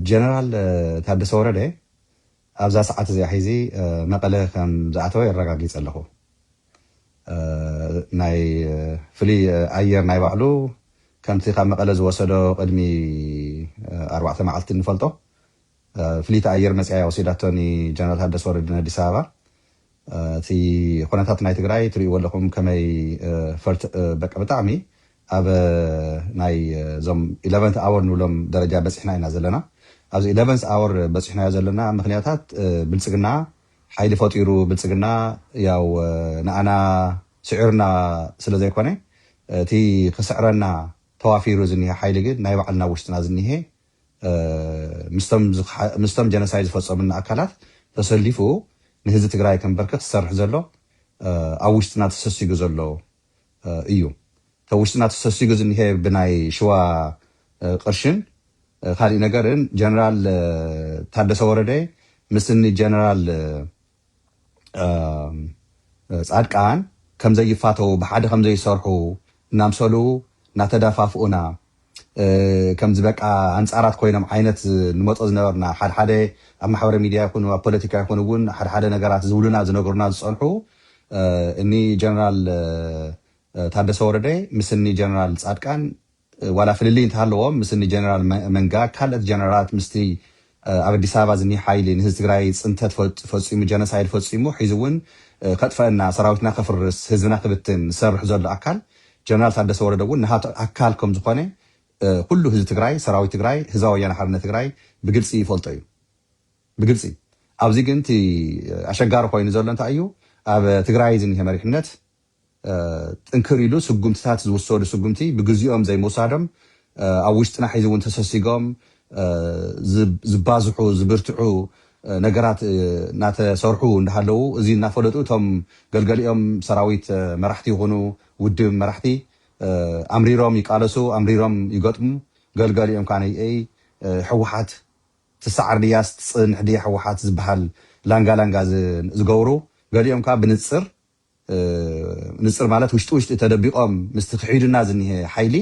ጀነራል ታደሰ ወረደ ኣብዛ ሰዓት እዚኣ ሒዚ መቐለ ከም ዝኣተወ የረጋጊፀ ኣለኹ። ናይ ፍሉይ ኣየር ናይ ባዕሉ ከምቲ ካብ መቐለ ዝወሰዶ ቅድሚ ኣርባዕተ መዓልቲ እንፈልጦ ፍልይቲ ኣየር መፂኣ እያ ወሲዳቶ ንጀነራል ታደሰ ወረደ ንኣዲስ ኣበባ። እቲ ኹነታት ናይ ትግራይ ትሪእዎ ኣለኹም ከመይ ፈርት በቃ ብጣዕሚ ኣብ ናይ እዞም ኢለቨንት ኣወር ንብሎም ደረጃ በፂሕና ኢና ዘለና ኣብዚ ኢለቨንስ ኣወር በፂሕናዮ ዘለና ምኽንያታት ብልፅግና ሓይሊ ፈጢሩ ብልፅግና ያው ንኣና ስዒሩና ስለ ዘይኮነ እቲ ክስዕረና ተዋፊሩ ዝኒሀ ሓይሊ ግን ናይ ባዕልና ውሽጥና ዝኒሀ ምስቶም ጀነሳይድ ዝፈፀሙልና ኣካላት ተሰሊፉ ንህዝቢ ትግራይ ከንበርክኽ ዝሰርሕ ዘሎ ኣብ ውሽጥና ተሰሲጉ ዘሎ እዩ። እቲ ኣብ ውሽጥና ተሰሲጉ ዝኒሀ ብናይ ሽዋ ቕርሽን ካሊእ ነገርን ጀነራል ታደሰ ወረደ ምስ እኒ ጀነራል ፃድቃን ከምዘይፋተዉ ብሓደ ከምዘይሰርሑ እናምሰሉ እናተደፋፍኡና ከምዚ በቃ ኣንፃራት ኮይኖም ዓይነት ንመፆ ዝነበርና ሓድሓደ ኣብ ማሕበረ ሚድያ ይኹኑ ኣብ ፖለቲካ ይኹን እውን ሓድሓደ ነገራት ዝብሉና ዝነገሩና ዝፀንሑ እኒ ጀነራል ታደሰ ወረደ ምስ እኒ ጀነራል ፃድቃን ዋላ ፍልልይ እንተሃለዎም ምስ እኒ ጀነራል መንጋ ካልእት ጀነራላት ምስቲ ኣብ ኣዲስ ኣበባ ዝኒህ ሓይሊ ንህዝቢ ትግራይ ፅንተት ፈፂሙ ጀነሳይድ ፈፂሙ ሒዚ እውን ከጥፈእና ሰራዊትና ከፍርስ ህዝብና ክብትን ዝሰርሕ ዘሎ ኣካል ጀነራል ታደሰ ወረደ እውን ናሃቱ ኣካል ከምዝኾነ ኩሉ ህዝቢ ትግራይ ሰራዊት ትግራይ ህዝባዊ ወያነ ሓርነት ትግራይ ብግልፂ ይፈልጦ እዩ ብግልፂ ኣብዚ ግን እቲ ኣሸጋሪ ኮይኑ ዘሎ እንታይ እዩ ኣብ ትግራይ ዝኒህ መሪሕነት ጥንክር ኢሉ ስጉምትታት ዝውሰዱ ስጉምቲ ብግዚኦም ዘይምውሳዶም ኣብ ውሽጥና ሕዚ እውን ተሰሲጎም ዝባዝሑ ዝብርትዑ ነገራት እናተሰርሑ እንዳሃለዉ እዚ እናፈለጡ እቶም ገልገሊኦም ሰራዊት መራሕቲ ይኹኑ ውድብ መራሕቲ ኣምሪሮም ይቃለሱ ኣምሪሮም ይገጥሙ ገልገሊኦም ካዓ ነይይ ህወሓት ትሰዓር ድያስ ትፅንሕ ድያ ህወሓት ዝባሃል ላንጋ ላንጋ ዝገብሩ ገሊኦም ካዓ ብንፅር ምንፅር ማለት ውሽጢ ውሽጢ ተደቢቆም ምስቲ ክሒዱና ዝኒሀ ሓይሊ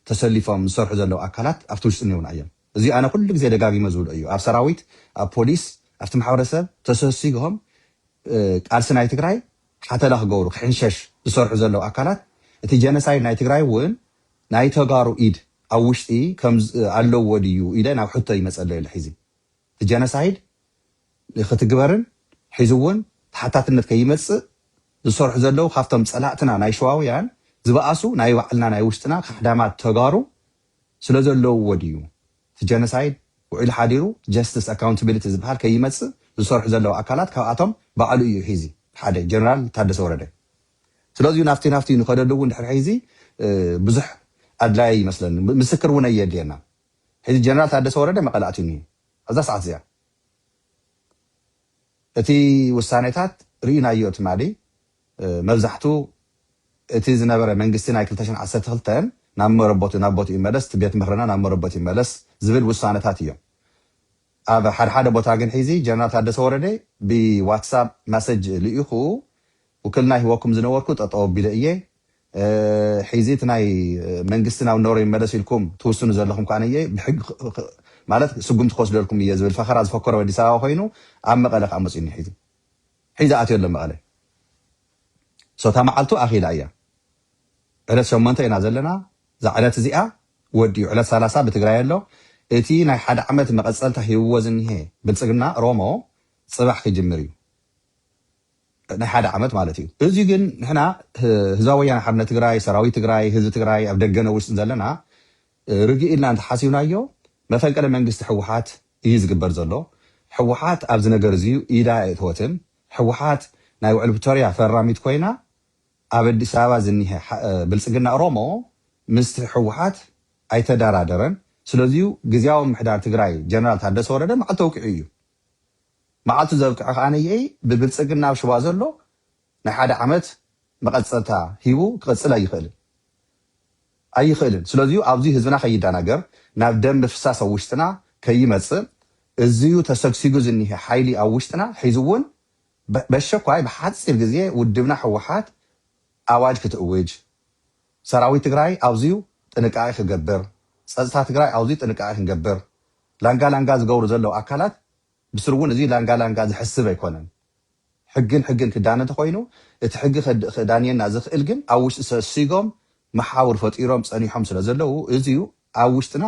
ተሰሊፎም ዝሰርሑ ዘለው ኣካላት ኣብቲ ውሽጢ እኒኦውና እዮም። እዚ ኣነ ኩሉ ግዜ ደጋጊመ ዝብሎ እዩ። ኣብ ሰራዊት፣ ኣብ ፖሊስ፣ ኣብቲ ማሕበረሰብ ተሰሲግሆም ቃልሲ ናይ ትግራይ ሓተላ ክገብሩ፣ ክሕንሸሽ ዝሰርሑ ዘለው ኣካላት እቲ ጀነሳይድ ናይ ትግራይ እውን ናይ ተጋሩ ኢድ ኣብ ውሽጢ ኣለዎ ድዩ ኢለ ናብ ሕቶ ይመፀለይ ኣሎ ሒዚ። እቲ ጀነሳይድ ንክትግበርን ሒዙ እውን ተሓታትነት ከይመፅእ ዝሰርሑ ዘለው ካብቶም ፀላእትና ናይ ሸዋውያን ዝበኣሱ ናይ ባዕልና ናይ ውሽጥና ካሕዳማት ተጋሩ ስለዘለውዎ ድዩ እቲ ጀነሳይድ ውዒሉ ሓዲሩ ጀስትስ ኣካውንትብሊቲ ዝበሃል ከይመፅእ ዝሰርሑ ዘለው ኣካላት ካብኣቶም ባዕሉ እዩ ሒዚ ሓደ ጀነራል ታደሰ ወረደ ስለዚዩ ናፍቲ ናፍቲ ንከደሉ እውን ድሕሪ ሒዚ ብዙሕ ኣድላይ ኣይመስለንን ምስክር እውን ኣየድልየናን። ሕዚ ጀነራል ታደሰ ወረደ መቐለ ኣትዩ እኒሄ ኣብዛ ሰዓት እዚኣ እቲ ውሳኔታት ርኢናዮ ትማሊ መብዛሕቱ እቲ ዝነበረ መንግስቲ ናይ ክልተ ሽሕን ዓሰርተ ክልተን ናብ መረበቱ ናብ ቦትኡ ይመለስ እቲ ቤት ምክርና ናብ መረበቱ ይመለስ ዝብል ውሳነታት እዮም ኣብ ሓደ ሓደ ቦታ ግን ሒዚ ጀነራል ታደሰ ወረደ ብዋትሳፕ ማሰጅ ልኢኹ ውክልና ሂወኩም ዝነበርኩ ጠጠው ኣቢለ እየ ሒዚ እቲ ናይ መንግስቲ ናብ ነበሮ ይመለስ ኢልኩም ትውስኑ ዘለኹም ከኣ እየ ብሕጊ ማለት ስጉምቲ ክወስደልኩም እየ ዝብል ፈኸራ ዝፈከሮ ኣዲስ ኣበባ ኮይኑ ኣብ መቐለ ከኣ መጽዩ እኒ ሒዚ ሒዚ ኣትዮ ኣሎ መቐለ ሶ እታ መዓልቱ ኣኺላ እያ ዕለት ሸሞንተ ኢና ዘለና እዛ ዕለት እዚኣ ወዲኡ ዕለት ሰላሳ ብትግራይ ኣሎ እቲ ናይ ሓደ ዓመት መቐጸልታ ሂብዎ ዝኒሀ ብልጽግና ሮሞ ጽባሕ ክጅምር እዩ ናይ ሓደ ዓመት ማለት እዩ እዙይ ግን ንሕና ህዝባዊ ወያነ ሓርነት ትግራይ ሰራዊት ትግራይ ህዝቢ ትግራይ ኣብ ደገን ኣብ ውሽጥን ዘለና ርግእ ኢልና እንተሓሲብናዮ መፈንቅለ መንግስቲ ህወሓት እዩ ዝግበር ዘሎ ህወሓት ኣብዚ ነገር እዙይ ኢዳ ኣየእተወትን ህወሓት ናይ ውዕል ፕቶርያ ፈራሚት ኮይና ኣብ ኣዲስ ኣበባ ዝኒሀ ብልፅግና ኦሮሞ ምስቲ ህወሓት ኣይተደራደረን ስለዚዩ ግዝያዊ ምምሕዳር ትግራይ ጀነራል ታደሰ ወረደ መዓልቲ ተውቂዑ እዩ መዓልቱ ዘብቅዐ ከኣ ነይይ ብብልጽግና ኣብ ሽዋ ዘሎ ናይ ሓደ ዓመት መቐጸልታ ሂቡ ክቕጽል ኣይኽእልን ኣይኽእልን ስለዚዩ ኣብዙይ ህዝብና ከይዳናገር ናብ ደም ምፍሳስ ኣብ ውሽጥና ከይመጽእ እዚዩ ተሰግሲጉ ዝኒሀ ሓይሊ ኣብ ውሽጥና ሒዙውን በሸኳይ ብሓጺር ግዜ ውድብና ህወሓት ኣዋጅ ክትእውጅ ሰራዊት ትግራይ ኣውዝዩ ጥንቃቄ ክገብር ፀፅታ ትግራይ ኣውዝዩ ጥንቃቄ ክንገብር ላንጋ ላንጋ ዝገብሩ ዘለው ኣካላት ብስሩ እውን እዙይ ላንጋ ላንጋ ዘሕስብ ኣይኮነን ሕግን ሕግን ክዳነ እንተኾይኑ እቲ ሕጊ ክዳንየና ዝኽእል ግን ኣብ ውሽጢ ሰሲጎም መሓውር ፈጢሮም ፀኒሖም ስለ ዘለው እዙይ ኣብ ውሽጥና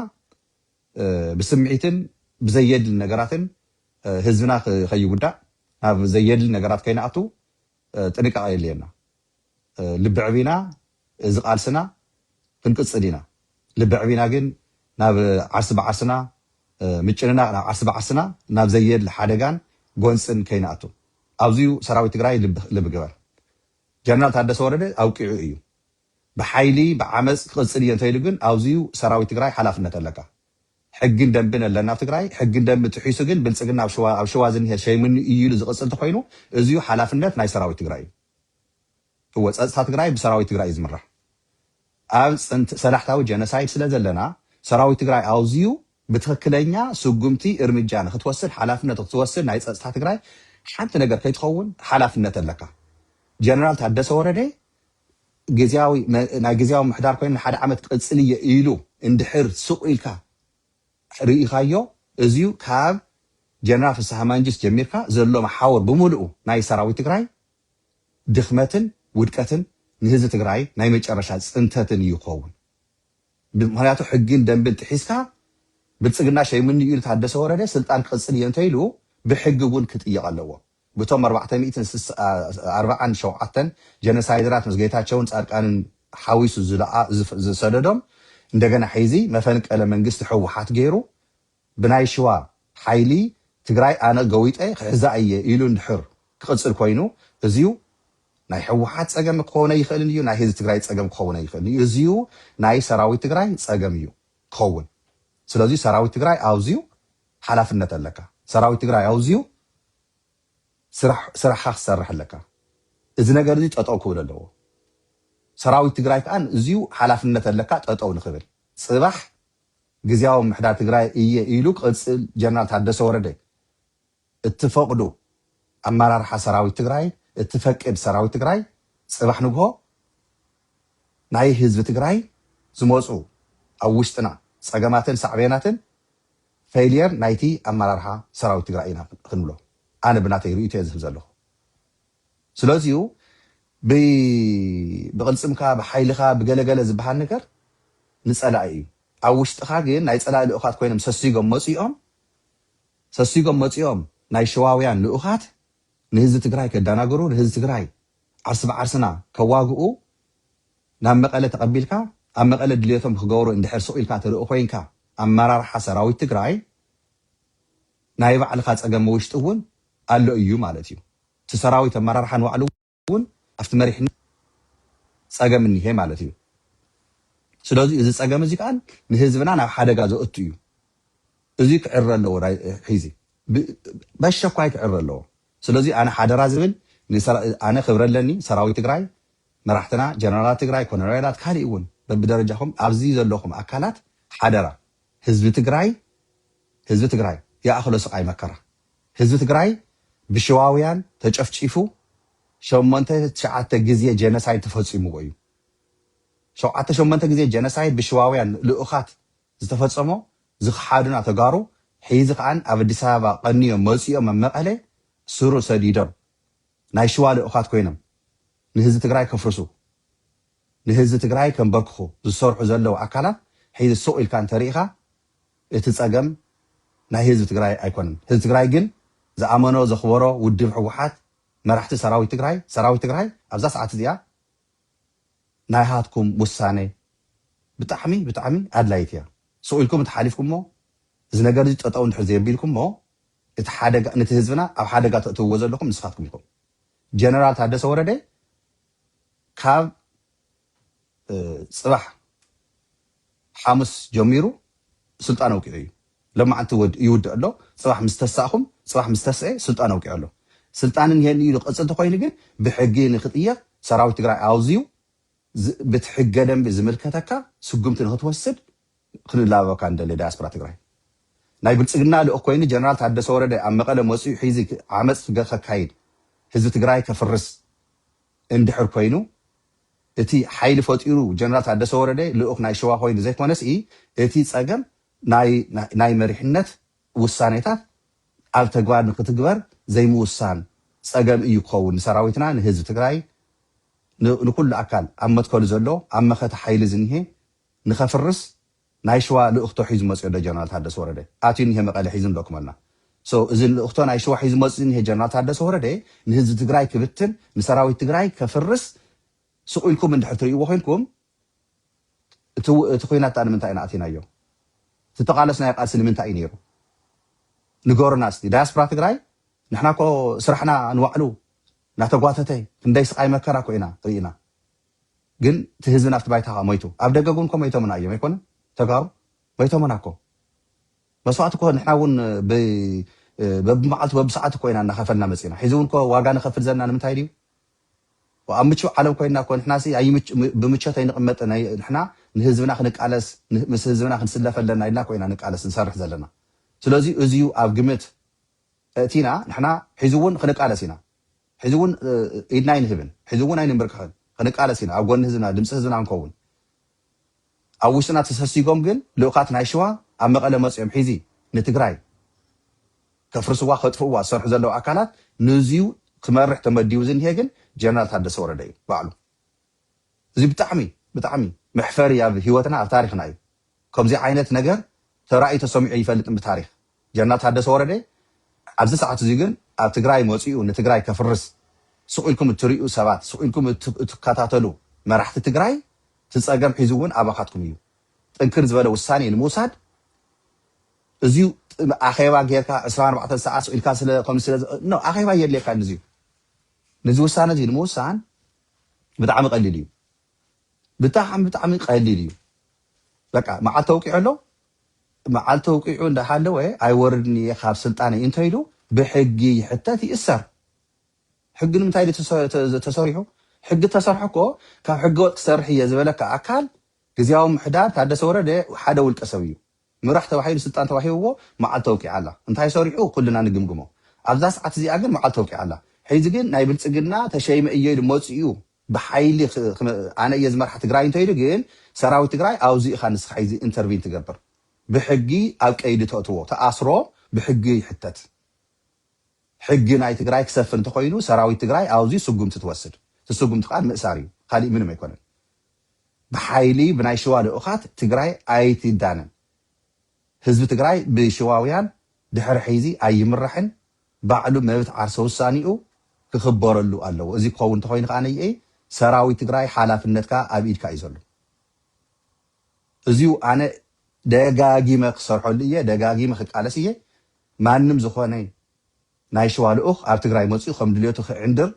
ብስምዒትን ብዘየድሊ ነገራትን ህዝብና ከይጉዳእ ናብ ዘየድሊ ነገራት ከይንኣቱ ጥንቃቄ የድልየና። ልብዕቢና እዚ ቃልስና ክንቅጽል ኢና ልብዕቢና ግን ናብ ዓርስ ብዓርስና ምጭንናቅ ናብ ዓርስ ብዓርስና ናብ ዘየድሊ ሓደጋን ጎንጽን ከይንኣቱ ኣብዚዩ ሰራዊት ትግራይ ልብ ግበር ጀነራል ታደሰ ወረደ ኣብቂዑ እዩ ብሓይሊ ብዓመጽ ክቅጽል እየ እንተይሉ ግን ኣብዚዩ ሰራዊት ትግራይ ሓላፍነት ኣለካ ሕግን ደንብን ኣለና ኣብ ትግራይ ሕግን ደንብን ጥሒሱ ግን ብልጽግና ኣብ ሽዋ ዝኒሀ ሸይምኒ እዩ ኢሉ ዝቅጽል ተኾይኑ እዚዩ ሓላፍነት ናይ ሰራዊት ትግራይ እዩ እወ ፀፅታ ትግራይ ብሰራዊት ትግራይ እዩ ዝምራሕ ኣብ ፅንት ሰላሕታዊ ጀነሳይድ ስለ ዘለና ሰራዊት ትግራይ ኣውዚዩ ብትክክለኛ ስጉምቲ እርምጃ ንክትወስድ ሓላፍነት ክትወስድ ናይ ፀፅታ ትግራይ ሓንቲ ነገር ከይትኸውን ሓላፍነት ኣለካ ጀነራል ታደሰ ወረደ ግዝያዊ ናይ ግዝያዊ ምሕዳር ኮይኑ ንሓደ ዓመት ቅፅልየ ኢሉ እንድሕር ስቁ ኢልካ ርኢኻዮ እዚዩ ካብ ጀነራል ፍስሃ ማንጁስ ጀሚርካ ዘሎ መሓውር ብሙሉኡ ናይ ሰራዊት ትግራይ ድኽመትን ውድቀትን ንህዝቢ ትግራይ ናይ መጨረሻ ፅንተትን እዩ ክኸውን ምኽንያቱ ሕግን ደንብን ጥሒስካ ብልፅግና ሸይሙኒ ኢሉ ታደሰ ወረደ ስልጣን ክቕፅል እየ እንተይሉ ብሕጊ እውን ክጥየቕ ኣለዎ። ብቶም ኣርባዕተ ሚእትን ስሳን ኣርባዓን ሸውዓተን ጀነሳይደራት ምስ ጌታቸውን ፃድቃንን ሓዊሱ ዝሰደዶም እንደገና ሕይዚ መፈንቀለ መንግስቲ ህወሓት ገይሩ ብናይ ሽዋ ሓይሊ ትግራይ ኣነ ገዊጠ ክሕዛ እየ ኢሉ እንድሕር ክቅፅል ኮይኑ እዙይ ናይ ህወሓት ፀገም ክኸውን ኣይኽእልን እዩ ናይ ህዝቢ ትግራይ ፀገም ክኸውን ኣይኽእልን እዩ እዙይ ናይ ሰራዊት ትግራይ ፀገም እዩ ክኸውን ስለዚ ሰራዊት ትግራይ ኣውዝዩ ሓላፍነት ኣለካ ሰራዊት ትግራይ ኣውዝዩ ስራሕ ስራሕካ ክትሰርሕ ኣለካ እዚ ነገር እዚ ጠጠው ክብል ኣለዎ ሰራዊት ትግራይ ከኣ እዝዩ ሓላፍነት ኣለካ ጠጠው ንክብል ጽባሕ ግዝያዊ ምምሕዳር ትግራይ እየ ኢሉ ክቅጽል ጀነራል ታደሰ ወረደ እትፈቕዱ ኣመራርሓ ሰራዊት ትግራይ እትፈቅድ ሰራዊት ትግራይ ፅባሕ ንግሆ ናይ ህዝቢ ትግራይ ዝመፁ ኣብ ውሽጥና ፀገማትን ሳዕቤናትን ፌልየር ናይቲ ኣመራርሓ ሰራዊት ትግራይ ኢና ክንብሎ ኣነ ብናተይ ሪኢቶ እየ ዝህብ ዘለኹ ስለዚዩ ብቕልፅምካ ብሓይልኻ ብገለገለ ዝበሃል ነገር ንፀላኢ እዩ ኣብ ውሽጥኻ ግን ናይ ፀላኢ ልኡኻት ኮይኖም ሰሲጎም መፂኦም ሰሲጎም መጺኦም ናይ ሸዋውያን ልኡኻት ንህዝቢ ትግራይ ከዳናግሩ ንህዝቢ ትግራይ ዓርሲ ብዓርስና ከዋግኡ ናብ መቐለ ተቐቢልካ ኣብ መቐለ ድልየቶም ክገብሩ እንድሕር ስቕ ኢልካ ትርኢ ኮይንካ ኣመራርሓ ሰራዊት ትግራይ ናይ ባዕልኻ ጸገም ውሽጢ እውን ኣሎ እዩ ማለት እዩ እቲ ሰራዊት ኣመራርሓ ንባዕሉ እውን ኣብቲ መሪሕነት ፀገም እኒሀ ማለት እዩ። ስለዙይ እዚ ፀገም እዚ ከዓ ንህዝብና ናብ ሓደጋ ዘእቱ እዩ። እዙይ ክዕረ ኣለዎ ሒዚ በሸኳይ ክዕረ ኣለዎ። ስለዙይ ኣነ ሓደራ ዝብል ኣነ ክብሪ ኣለኒ ሰራዊት ትግራይ መራሕትና ጀነራላት ትግራይ ኮነሬላት ካሊእ እውን በብደረጃኹም ኣብዚ ዘለኹም ኣካላት ሓደራ ህዝቢ ትግራይ ህዝቢ ትግራይ ይኣኽሎ ስቃይ መከራ ህዝቢ ትግራይ ብሽዋውያን ተጨፍጪፉ ሸሞንተ ትሽዓተ ግዜ ጀነሳይድ ተፈፂሙዎ እዩ። ሸውዓተ ሸሞንተ ግዜ ጀነሳይድ ብሽዋውያን ልኡኻት ዝተፈፀሞ ዝኽሓዱና ተጋሩ ሕይዚ ከዓ ኣብ ኣዲስ ኣበባ ቀንዮም መፂኦም ኣብ መቐለ ስሩ ሰዲዶም ናይ ሽዋ ልኡኻት ኮይኖም ንህዝቢ ትግራይ ከፍርሱ ንህዝቢ ትግራይ ከንበርክኹ ዝሰርሑ ዘለው ኣካላት ሕይዚ ሱቕ ኢልካ እንተሪኢኻ እቲ ፀገም ናይ ህዝቢ ትግራይ ኣይኮነን ህዝቢ ትግራይ ግን ዝኣመኖ ዘኽበሮ ውድብ ህወሓት መራሕቲ ሰራዊት ትግራይ ሰራዊት ትግራይ ኣብዛ ሰዓት እዚኣ ናይሃትኩም ውሳነ ብጣዕሚ ብጣዕሚ ኣድላይት እያ ስቅ ኢልኩም እንተሓሊፍኩሞ እዚ ነገር እዚ ጠጠው እንድሕር ዘየቢልኩሞ እቲ ሓደጋ ነቲ ህዝብና ኣብ ሓደጋ ተእትውዎ ዘለኹም ንስኻትኩም ኢኹም ጀነራል ታደሰ ወረደ ካብ ጽባሕ ሓሙስ ጀሚሩ ስልጣን ኣውቂዑ እዩ ሎማዓንቲ ይውድእ ኣሎ ጽባሕ ምስ ተሳእኹም ጽባሕ ምስ ተስኤ ስልጣን ኣውቂዑ ኣሎ ስልጣን እንሄኒ ኢሉ ክቅጽል ተኾይኑ ግን ብሕጊ ንክጥየቅ ሰራዊት ትግራይ ኣውዚዩ ብቲ ሕገ ደንቢ ዝምልከተካ ስጉምቲ ንክትወስድ ክንላበበካ ንደሊ ዳያስፖራ ትግራይ ናይ ብልጽግና ልኡኽ ኮይኑ ጀነራል ታደሰ ወረደ ኣብ መቐለ መጽኡ ሒዚ ዓመጽ ከካይድ ህዝቢ ትግራይ ከፍርስ እንድሕር ኮይኑ እቲ ሓይሊ ፈጢሩ ጀነራል ታደሰ ወረደ ልኡኽ ናይ ሸዋ ኮይኑ ዘይኮነስ እቲ ፀገም ናይ መሪሕነት ውሳኔታት ኣብ ተግባር ንክትግበር ዘይምውሳን ፀገም እዩ ክኸውን ንሰራዊትና ንህዝቢ ትግራይ ንኩሉ ኣካል ኣብ መትከሉ ዘሎ ኣብ መኸተ ሓይሊ ዝኒሀ ንከፍርስ ናይ ሽዋ ልእኽቶ ሒዙ መጽዮ ዶ ጀነራል ታደሰ ወረደ ኣትዩ እኒሀ መቀለ ሒዙ እንዶ ክመልና so እዚ ልእኽቶ ናይ ሽዋ ሒዙ መጽዩ እኒሀ ጀነራል ታደሰ ወረደ ንህዝቢ ትግራይ ክብትን ንሰራዊት ትግራይ ከፍርስ ስቅ ኢልኩም እንድሕር ትርእይዎ ኮይንኩም እቲ እቲ ኩናት ድኣ ንምንታይ ኢና ኣቲናዮ እቲ ተቃለስናዮ ቃልሲ ንምንታይ እዩ ነይሩ ንገሩና እስቲ ዳያስፖራ ትግራይ ንሕና እኮ ስራሕና ንባዕሉ ናተጓተተ ክንደይ ስቃይ መከራ እኮ ኢና ርኢና ግን እቲ ህዝብና ኣብቲ ባይታ ከኣ ሞይቱ ኣብ ደገ ግን እኮ ሞይቶምና እዮም ኣይኮነን ተጋሩ ሞይቶምና እኮ መስዋእቲ እኮ ንሕና እውን በብመዓልቱ በብሰዓት እኮ ኢና እናኸፈልና መፂና ሕዚ እውን እኮ ዋጋ ንኸፍል ዘለና ንምንታይ ድዩ ኣብ ምቹእ ዓለም ኮይና እኮ ንሕና ብምቾት ኣይንቕመጥ ንሕና ንህዝብና ክንቃለስ ምስ ህዝብና ክንስለፈ ኣለና ኢልና እኮ ኢና ንቃለስ ንሰርሕ ዘለና ስለዚ እዚዩ ኣብ ግምት እቲና ንሕና ሕዚ እውን ክንቃለስ ኢና ሕዚ እውን ኢድና ኣይንህብን፣ ሕዚ እውን ኣይንምብርክኽን፣ ክንቃለስ ኢና፣ ኣብ ጎኒ ህዝብና፣ ድምፂ ህዝብና ክንከውን። ኣብ ውሽጥና ተሰሲጎም ግን ልኡኻት ናይ ሽዋ ኣብ መቐለ መፂኦም ሒዚ ንትግራይ ከፍርስዋ ከጥፍእዋ ዝሰርሑ ዘለዉ ኣካላት ንእዚዩ ክመርሕ ተመዲቡ ዝኒሀ ግን ጀነራል ታደሰ ወረደ እዩ ባዕሉ። እዚ ብጣዕሚ ብጣዕሚ መሕፈሪ ኣብ ሂወትና ኣብ ታሪኽና እዩ ከምዙይ ዓይነት ነገር ተራእዩ ተሰሚዑ ኣይፈልጥን ብታሪኽ ጀነራል ታደሰ ወረደ ኣብዚ ሰዓት እዙይ ግን ኣብ ትግራይ መፂኡ ንትግራይ ከፍርስ ስቅ ኢልኩም እትሪኡ ሰባት ስቅ ኢልኩም እትከታተሉ መራሕቲ ትግራይ እቲ ፀገም ሒዙ እውን ኣባኻትኩም እዩ ጥንክር ዝበለ ውሳኔ ንምውሳድ እዚዩ ኣኼባ ጌርካ ዕስራን ኣርባዕተን ሰዓት ስቅ ኢልካ ስለ ከምዚ ስለ ኖ ኣኼባ የድልየካ ንዚዩ ንዚ ውሳነ እዚ ንምውሳን ብጣዕሚ ቀሊል እዩ ብጣዕሚ ብጣዕሚ ቀሊል እዩ በቃ መዓልቲ ኣውቂዑ ኣሎ መዓልቲ ኣውቂዑ እንዳሃለወ ኣይወርድን እየ ካብ ስልጣነይ እንተይሉ ብሕጊ ይሕተት ይእሰር ሕጊ ንምንታይ ድዩ ተሰሪሑ ሕጊ ተሰርሑ እኮ ካብ ሕገወጥ ክሰርሕ እየ ዝበለካ ኣካል ግዜያዊ ምሕዳር ታደሰ ወረደ ሓደ ውልቀ ሰብ እዩ ምራሕ ተባሂሉ ስልጣን ተዋሂብዎ መዓልቲ ኣውቂዓ ኣላ እንታይ ሰሪሑ ኩልና ንግምግሞ ኣብዛ ሰዓት እዚኣ ግን መዓልቲ ኣውቂዓ ኣላ ሕዚ ግን ናይ ብልጽግና ተሸይመ እየ ኢሉ መጺኡ ብሓይሊ ኣነ እየ ዝመርሓ ትግራይ እንተኢሉ ግን ሰራዊት ትግራይ ኣውዚ ኢኻ ንስኻ ሕዚ እንተርቪን ትገብር ብሕጊ ኣብ ቀይዲ ተእትዎ ተኣስሮ ብሕጊ ይሕተት ሕጊ ናይ ትግራይ ክሰፍን እንተኾይኑ ሰራዊት ትግራይ ኣውዚ ስጉምቲ ትወስድ እቲ ስጉምቲ ከኣ ምእሳር እዩ ካሊእ ምንም ኣይኮነን ብሓይሊ ብናይ ሽዋ ልኡኻት ትግራይ ኣይትዳነን። ህዝቢ ትግራይ ብሽዋውያን ድሕሪ ሕይዚ ኣይምራሕን፣ ባዕሉ መብት ዓርሰ ውሳኔኡ ክኽበረሉ ኣለዎ። እዚ ክኸውን እንተኾይኑ ከኣ ነይኤ ሰራዊት ትግራይ ሓላፍነትካ ኣብ ኢድካ እዩ ዘሎ። እዚዩ ኣነ ደጋጊመ ክሰርሐሉ እየ፣ ደጋጊመ ክቃለስ እየ። ማንም ዝኾነ ናይ ሽዋ ልኡኽ ኣብ ትግራይ መጺኡ ከም ድልየቱ ክዕንድር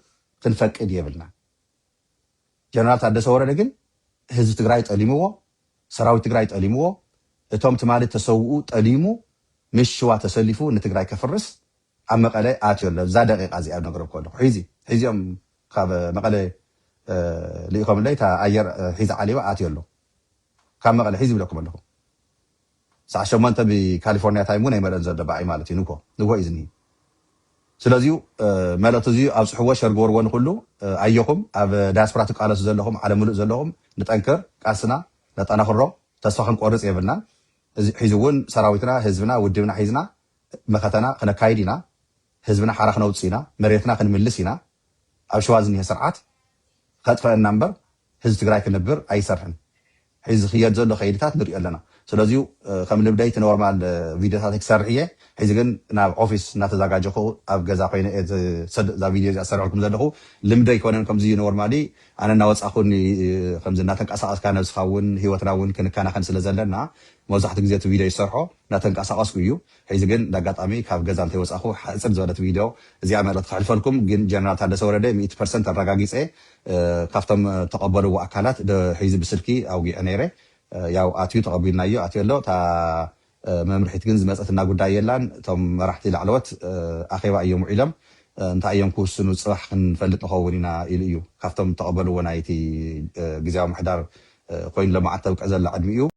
ክንፈቅድ የብልናን። ጀነራል ታደሰ ወረደ ግን ህዝቢ ትግራይ ጠሊምዎ፣ ሰራዊት ትግራይ ጠሊምዎ፣ እቶም ትማሊ እተሰውኡ ጠሊሙ ምስ ሽዋ ተሰሊፉ ንትግራይ ከፍርስ ኣብ መቐለ ኣትዮ ኣሎ። እዛ ደቒቓ እዚኣ ዝነግረኩ ኣለኹ። ሕዚ ሕዚ እዮም ካብ መቐለ ልኢኾምለይ እታ ኣየር ሒዛ ዓሊባ ኣትዮ ኣሎ። ካብ መቐለ ሕዚ ዝብለኩም ኣለኹ። ሰዓት ሸሞንተ ብ ካሊፎርኒያ ታይም ውን ኣይመልእን ዘሎ ብኣይ ማለት እዩ ንግሆ ንግሆ እዩ ዝንሂ ስለዚዩ መልእክቲ እዚዩ ኣብጽሕዎ ሸር ግበርዎ ንኩሉ ኣዮኩም ኣብ ዳያስፖራ ትቃለሱ ዘለኩም ዓለም ምሉእ ዘለኩም ንጠንክር ቃልስና ነጠናክሮ ተስፋ ክንቆርጽ የብልናን እዚ ሒዚ ውን ሰራዊትና ህዝብና ውድብና ሒዝና መኸተና ክነካይድ ኢና ህዝብና ሓራ ክነውጽእ ኢና መሬትና ክንምልስ ኢና ኣብ ሸዋ ዝኒሀ ስርዓት ከጥፈእና እምበር ህዝቢ ትግራይ ክንብር ኣይሰርሕን ሕዚ ዝክየድ ዘሎ ከይድታት ንሪኦ ኣለና ስለዚዩ ከም ልምደይ እቲ ኖርማል ቪድዮታተይ ክሰርሕ እየ ሕዚ ግን ናብ ኦፊስ እናተዛጋጀኩ ኣብ ገዛ ኮይነ እየ እዛ ቪድዮ እዚኣ ዝሰርሐልኩም ዘለኩ ልምደይ ኣይኮነን ከምዚ ኖርማሊ ኣነ እናወጻኩ ከምዚ እናተንቀሳቀስካ ነብስካ ውን ሂወትና ውን ክንከናከን ስለ ዘለና መብዛሕትኡ ግዜ እቲ ቪድዮ ዝሰርሖ እናተንቀሳቀስኩ እዩ ሕዚ ግን እንዳ ኣጋጣሚ ካብ ገዛ እንተይወጻኹ ሓጽር ዝበለት ቪድዮ እዚኣ መልእኽቲ ከሕልፈልኩም ግን ጀነራል ታደሰ ወረደ ሚእቲ ፐርሰንት ኣራጋጊጸ ካብቶም ተቀበልዎ ኣካላት ዶ ሕዚ ብስልኪ ኣውጊዐ ነይረ ያው ኣትዩ ተቀቢልናዮ ኣትዮ ኣሎ እታ መምርሒት ግን ዝመጸትና ጉዳይ የላን እቶም መራሕቲ ላዕለዎት ኣኼባ እዮም ውዒሎም እንታይ እዮም ክውስኑ ጽባሕ ክንፈልጥ ንኸውን ኢና ኢሉ እዩ ካብቶም ተቀበልዎ ናይቲ ግዝያዊ ምሕዳር ኮይኑ ለማዓት ተብቅዕ ዘላ ዕድሚኡ